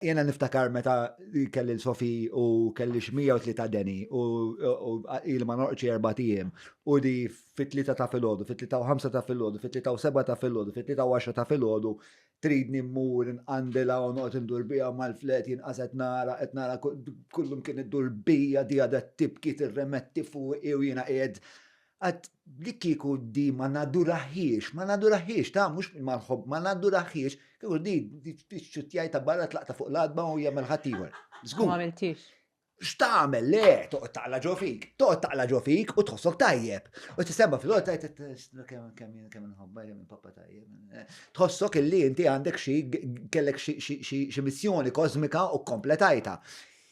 Jiena niftakar meta kelli l-Sofi u kelli xmija u tlita deni u il ma norqċi erba tijem u di fit-tlita ta' fil-ħodu, fit-tlita u ħamsa ta' fil-ħodu, fit-tlita u seba ta' fil-ħodu, fit-tlita u għaxra ta' fil-ħodu, tridni mmur nqandila u noqgħod indur bija mal-flet jien qas qed nara, qed nara kullum kien iddur bija di għadha tibki tirremetti fuqi u jiena qiegħed Għad li kieku di ma naduraħiex, ma naduraħiex, ta' mux mal-ħob, ma naduraħiex, kieku di t-ċutjaj ta' barra tlaqta fuq l-adba u jgħamil ħatiħor. Zgur. Ma għamiltix. X'tagħmel le, toqgħod taqla ġo fik, toqgħod taqla ġo fik u tħossok tajjeb. U tisema fil-għol tajt kemm kemm kemm inħobba kemm pappa tajjeb. Tħossok illi inti għandek xi kellek xi missjoni kosmika u kompletajta.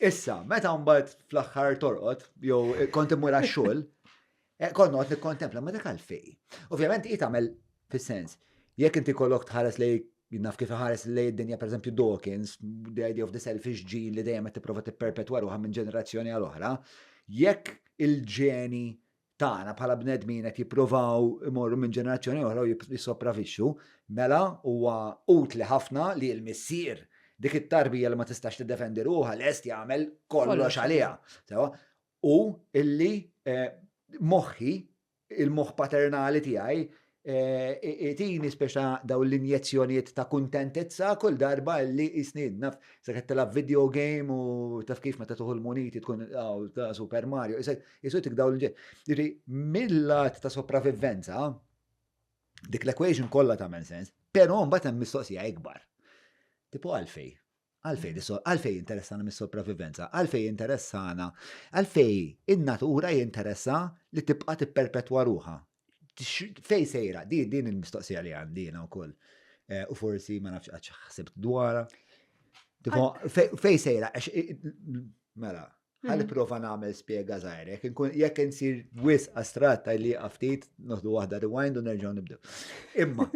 Issa, meta mbagħad fl-aħħar torqod, jew kont immur għax-xogħol, eh, kont noqgħod nikkontempla ma dak għalfej. Ovvjament hi tagħmel fis-sens. Jekk inti kollok tħares lej naf kif ħares lej id-dinja pereżempju Dawkins, the idea of the selfish gene li dejjem qed tipprova tipperpetwa ruħha minn ġenerazzjoni għal oħra, jekk il-ġeni tagħna bħala bnedmin qed jippruvaw imorru minn ġenerazzjoni oħra u jissopravixxu, mela huwa utli ħafna li l-missier dik it-tarbija li ma tistax tiddefendi ruħha lest jagħmel kollox għaliha. Sewa, u illi eh, moħħi il-moħħ paternali tiegħi Itini speċa daw l-injezzjonijiet ta' kuntentezza kull darba li jisni naf se qed tilgħab video game u taf kif meta tuħu l-muniti tkun ta' Super Mario. Isu tik daw l-ġej. Jiġri mill-lat ta' sopravivenza dik l-equation kollha tagħmel sens, però mbagħad hemm mistoqsija ikbar. Tipo għalfej? Għalfejn għalfejn jinteressana mis-sopravivenza? Għalfejn jinteressana? Għalfejn in-natura jinteressa li tibqa' tipperpetwa ruha? Fej sejra, di din il-mistoqsija li għandi jiena wkoll. Eh, u forsi ma nafx għax ħsibt dwarha. Fej sejra, għax mela, ħalli mhm. prova nagħmel spjega żgħir, jekk insir wis astrat li ftit noħdu waħda rewind u nerġgħu nibdew. Imma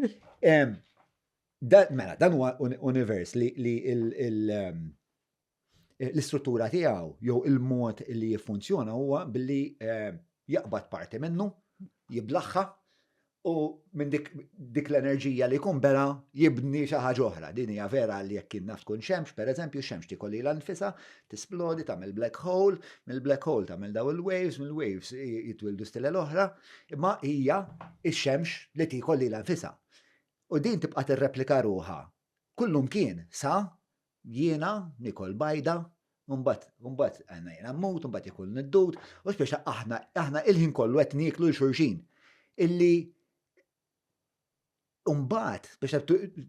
Dan, mela, dan huwa univers li, li ehm, l-istruttura tiegħu jew il-mod li jiffunzjona huwa billi ehm, jaqbad parti minnu, jiblaħħa u minn dik, dik l-enerġija li jkun bela jibni xi ħaġa oħra. Din hija vera li jekk kien naf tkun xemx, pereżempju, xemx tikolli l-anfisa, tisplodi tagħmel black hole, mill-black hole tagħmel daw il-waves, mill-waves jitwildu stile l-oħra, imma hija ix-xemx li tikolli l-anfisa. U din tibqa' tirreplika ruħha kullumkien sa jiena nikol bajda, u mbagħad, u mbagħad għandna jiena mmut, u mbagħad ikun niddud, u speċa aħna, aħna il-ħin kollu qed nieklu l xulxin. Illi Umbat, biex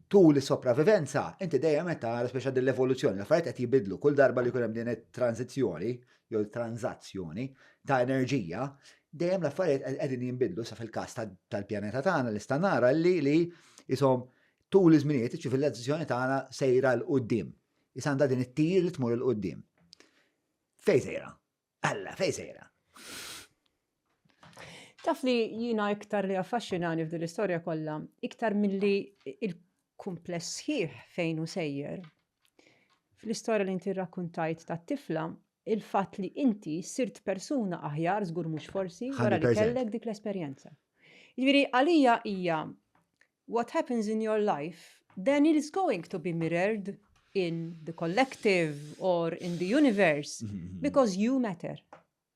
tul is-sopravivenza, inti dejjem qed tara speċa din l-evoluzzjoni, l-affarijiet qed jibidlu kull darba li jkun hemm din it-tranzizzjoni, jew tranzazzjoni ta' enerġija, dejjem l-affarijiet qegħdin jinbidlu sa fil-każ tal-pjaneta tagħna li sta nara li li isom tul iż-żminijiet iċ-ċivilizzazzjoni tagħna sejra l qudiem Isanda din it-tir li tmur l qudiem Fej sejra? Alla, fej sejra? Taf li jina iktar li affaxxinani f'din l-istorja kollha, iktar milli il-kumpless sħiħ fejn u sejjer. Fl-istorja li inti rrakkuntajt ta' tifla, il-fatt li inti sirt persuna aħjar żgur mhux forsi wara li kellek dik l-esperjenza. Jiġifieri għalija hija what happens in your life then it is going to be mirrored in the collective or in the universe mhm, mhm. because you matter.